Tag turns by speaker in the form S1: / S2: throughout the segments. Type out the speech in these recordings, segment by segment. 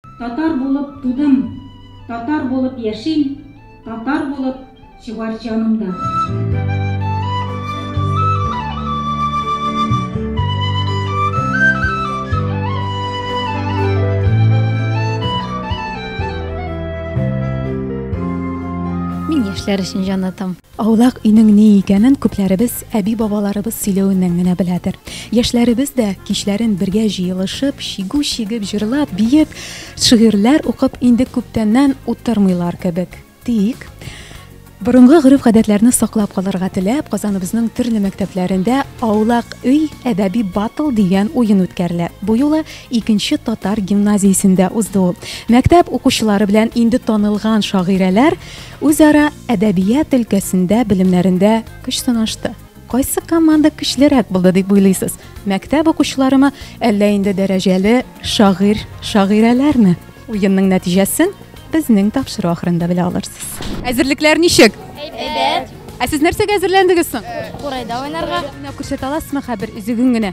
S1: Татар булып тудым, татар булып яшим, татар булып чыгар җаным да. Мин яшьләр өчен җан атам. Аулак өйнең ни икәнен күпләребез әби-бабаларыбыз сөйләвеннән генә беләдер. Яшьләребез дә, кичләрен бергә җыелышып, чигү чигеп, җырлап, биеп, шигырьләр укып инде күптәннән утырмыйлар кебек. Тик, борынгы гореф-гадәтләрне саклап калырга теләп, Казаныбызның төрле мәктәпләрендә Аулак өй, әдәби батл дигән уен үткәрелә. Бу юлы икенче татар гимназиясендә узды ул. Мәктәп укучылары белән инде танылган шагыйрәләр, Үзара әдәбият өлкәсендә белемнәрендә көч сынашты. Кайсы команда көчлерәк булды дип уйлыйсыз? Мәктәп укучыларымы, әллә инде дәрәҗәле шагыйрь, шагыйрәләрме? Уенның нәтиҗәсен безнең тапшыру ахырында белә алырсыз. Әзерлекләр ничек? Әйбәт. Ә сез нәрсәгә әзерләндегез соң? Курайда уйнарга. Менә күрсәтә аласызмы хәбер үзегең генә?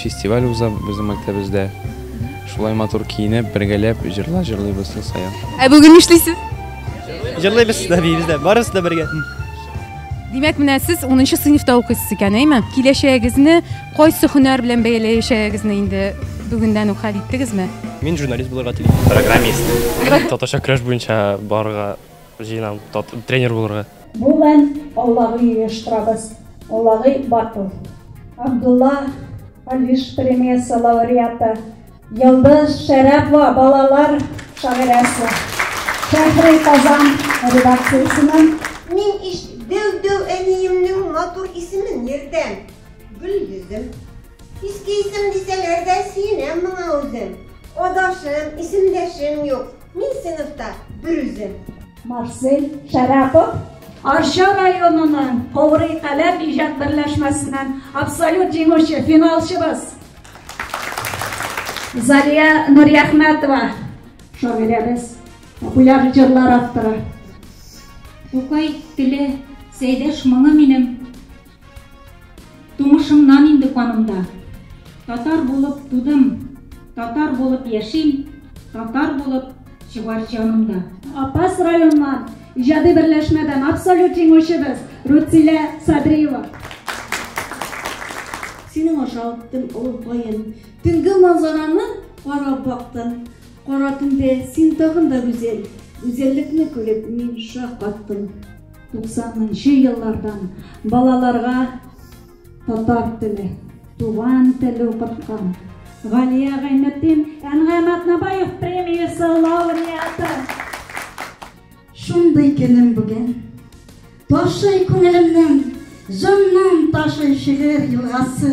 S1: Фестиваль уза безнең мәктәбездә. Шулай матур киенеп, бергәләп җырлар җырлыйбыз ел саен. Ә бүген нишлисез? Җырлыйбыз да, биибез дә. Барысы да бергә. Димәк, менә сез унынчы сыйныфта укыйсыз икән, әйме? Киләчәгегезне кайсы һөнәр белән бәяләячәгегезне инде бүгеннән үк хәл иттегезме? Мин журналист булырга телим. Программист. Татарча көрәш буенча барырга Җыенам тренер булырга. Бу мән Аллагы оештырабыз. Аллагы бар ул. Абдулла Алиш премиясе лауреаты Йылдыз Шәрәпова балалар шагыйрәсе. Шәһри Казан редакциясеннән мин иш дәү-дәү әниемнең матур исемен йөртәм. Гөл йөзем. Иске исем дисәләр дә сөенәм моңа үзем. Адашым, исемдәшем юк. Мин сыйныфта берүзем. Марсель Шәрәпов Арча районының Коврый каләм иҗат берләшмәсеннән абсолют җиңүче, финалчыбыз. Залия Нурьяхмәтова, шагыйрәбез, популяр җырлар авторы. Тукай теле, Сәйдәш моңы минем, Тумышымнан инде канымда. Татар булып тудым, татар булып яшим, татар булып чыгар җанымда. Апас районнан иҗади берләшмәдән абсолют җиңүчебез Рутилә Садриева. Синең аша үттем олы каен, төнге манзараны карап бактым. Кара төндә син тагын да гүзәл, гүзәллекне күреп мин шаккаттым. 90нчы еллардан балаларга татар теле, туган теле укыткан Галия Гайнетдин Әнгам Атнабаев премиясе лауреаты. Шундый көнем бүген. Ташый күңелемнән, җаннан ташый шигырь елгасы.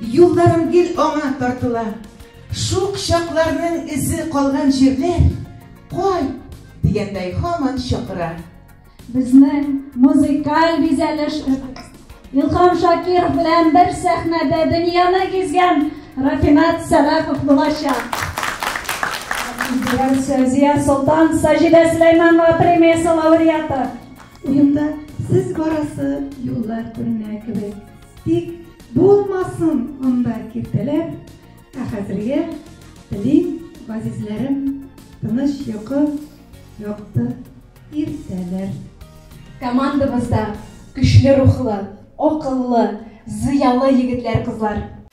S1: Юлларым гел аңа тартыла. Шук чакларның эзе калган җирләр, Кайт! дигәндәй һаман чакыра. Безнең музыкаль бизәлешебез Илһам Шакиров белән бер сәхнәдә дөньяны гизгән Рафинат Сәлахов булачак. Сәзия Солтан Саҗидә Сөләйманова премиясе лауреаты. Уенда сез барасы юллар күренә кебек. Тик булмасын анда киртәләр, ә хәзергә телим, газизләрем, тыныч йокы, якты иртәләр. Командабызда көчле рухлы, акыллы, зыялы егетләр-кызлар.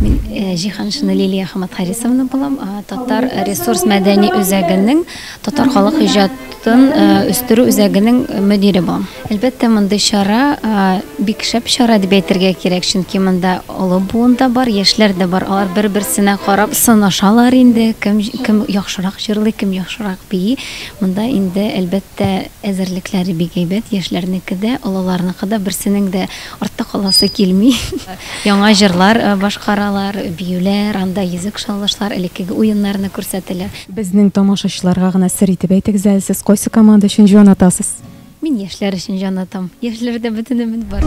S1: Мин Җиһаншина Лилия Хаматхарисовна булам. Татар ресурс мәдәни үзәгенең татар халык иҗатын үстерү үзәгенең мөдире булам. Әлбәттә, мондый чара бик шәп чара дип әйтергә кирәк, чөнки монда олы буын да бар, яшьләр дә бар. Алар бер-берсенә карап сынашалар инде, кем кем яхшырак җырлый, кем яхшырак бии. Монда инде, әлбәттә, әзерлекләре бик әйбәт, яшьләрнеке дә, олыларныкы да, берсенең дә Артта каласы килми. Яңа җырлар башкаралар, биюләр, анда йөзек шаулышлар, элеккеге уеннарны күрсәтәләр. Безнең тамашачыларга гына сер итеп әйтегез әле, сез кайсы команда өчен җан атасыз? Мин яшьләр өчен җан атам. Яшьләрдә бөтен өмет бар.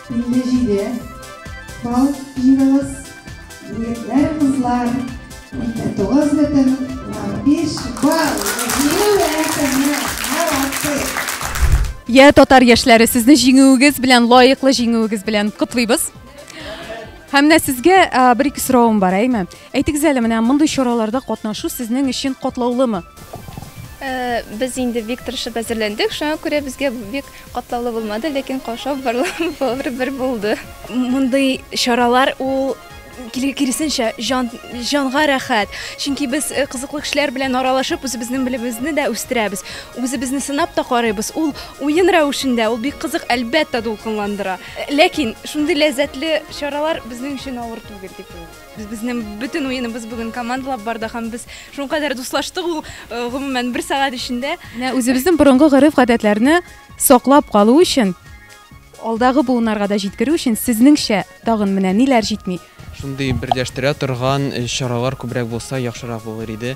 S1: Инде җиде, Бал, Ираз, Егетләр, Кызлар, Инде тугыз бөтен унбиш балл Җиңү әкемне яратыйк! Йә, татар яшьләре, сезне җиңүегез белән, лаеклы җиңүегез белән котлыйбыз. Һәм менә сезгә бер-ике соравым бар, әйме? Әйтегез әле, менә мондый чараларда катнашу сезнең өчен катлаулымы? Э, без инде бик тырышып әзерләндек, шуңа күрә безгә бик катлаулы булмады, ләкин каушау барлык бер булды. Мондый чаралар ул киресенчә җан җанга рәхәт. Чөнки без э, кызыклы кешеләр белән аралашып, үзебезнең белемебезне дә үстерәбез. Үзебезне сынап та карыйбыз. Ул уен рәвешендә, ул бик кызык, әлбәттә, дулкынландыра. Ләкин шундый ләззәтле чаралар безнең өчен авыр түгел дип уйлыйм. Без безнең бөтен уеныбыз бүген командалап барды һәм без шуңа кадәр дуслаштык ул э, гомумән бер сәгать эчендә. Менә үзебезнең борынгы гореф-гадәтләрне саклап калу өчен алдагы буыннарга да җиткерү өчен сезнеңчә тагын менә ниләр җитми? Шундый берләштерә торган э, чаралар күбрәк булса яхшырак булыр иде.